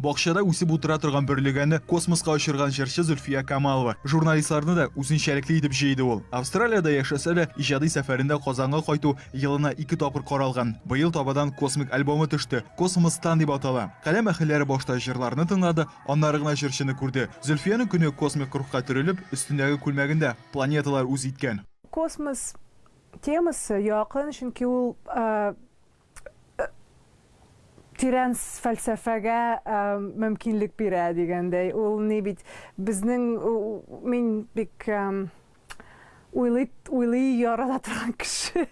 Бакчада үсеп утыра торган бөрлегәнне космоска очырган җырчы Зөлфия Камалова. Журналистларны да үзенчәлекле итеп җыйды ул. Австралиядә яшәсә дә, иҗади сәфәрендә Казанга кайту елына ике тапкыр каралган. Быел табадан космик альбомы төште. Космостан дип атала. Каләм әһелләре башта җырларны тыңлады, аннары гына җырчыны күрде. Зөлфиянең көне космик рухка төрелеп, өстендәге күлмәгендә планеталар үз иткән. Космос Темасы якын, чөнки ул тирән фәлсәфәгә мөмкинлек бирә дигәндәй. Ул ни бит, безнең, мин бик уйлый, уйлый ярата торган кеше.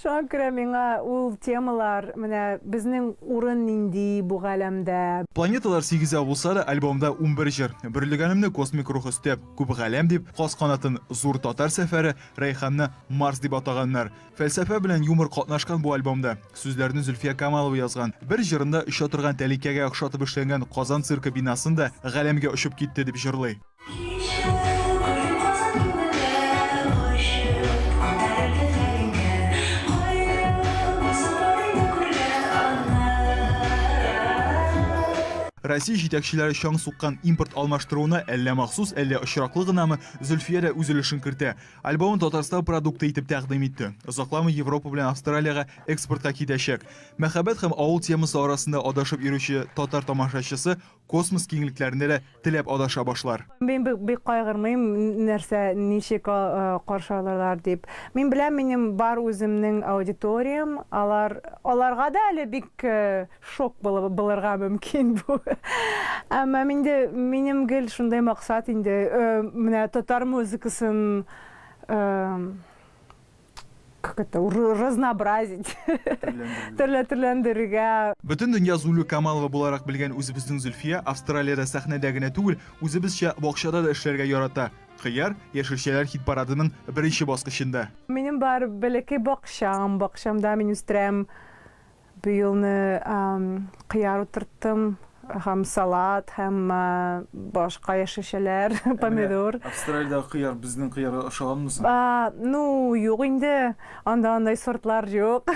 Шуңа күрә миңа ул темалар, менә безнең урын нинди бу галәмдә? Планеталар сигезәү булса да, альбомда унбер җыр, Бөрлегәнемне космик рух өстәп, Күп галәм дип, Каз канатын, Зур татар сәфәре, Рәйханны Марс дип атаганнар. Фәлсәфә белән юмор катнашкан бу альбомда. Сүзләрне Зөлфия Камалова язган. Бер җырында оча торган тәлинкәгә охшатып эшләнгән Казан циркы бинасын да галәмгә очып китте дип җырлый. Россия җитәкчеләре чаң суккан импорт алмаштыруына әллә махсус, әллә очраклы гынамы, Зөлфия дә үз өлешен кертә. Альбомын Татарстан продукты итеп тәкъдим итте. Озакламый Европа белән Австралиягә экспортка китәчәк. Мәхәббәт һәм авыл темасы арасында адашып йөрүче татар тамашачысы космос киңлекләрендә дә теләп адаша башлар. Мин бик кайгырмыйм, нәрсә, ничек каршы алырлар дип. Мин беләм, минем бар үземнең аудиториям, алар, аларга да әле бик Шок булып булырга мөмкин бу. Әмма минде минем гел шундый максат инде, менә татар музыкасын как это, разнообразить, төрләндерергә. Бөтен дөнья Зулю Камалова буларак белгән үзебезнең Зөлфия Австралиядә сәхнәдә генә түгел, үзебезчә бакчада да эшләргә ярата. Кыяр, яшелчәләр хит-парадының беренче баскычында. Минем бар бәләкәй бакчам, бакчамда мин үстерәм. Быелны кыяр утырттым һәм салат һәм башка яшелчәләр, помидор. Австралиядә кыяр безнең кыярга ошаганмы соң? Ну, юк инде, анда андай сортлар юк.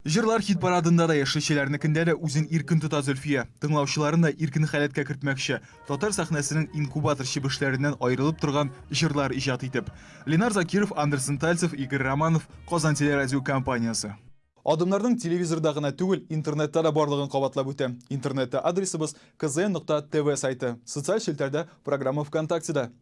Җырлар хит-парадында да, яшелчәләрнекендә дә үзен иркен тота Зөлфия. Тыңлаучыларын да иркен халәткә кертмәкче, татар сәхнәсенең инкубатор чебешләреннән аерылып торган җырлар иҗат итеп. Ленар Закиров, Андерсон Тальцев, Игорь Романов, Казан телерадиокомпаниясе. Адымнарның телевизорда гына түгел, интернетта да барлыгын кабатлап үтә. Интернетта адресыбыз, kzn нокта tv сайты, социаль челтәрдә, программа ВКонтактеда.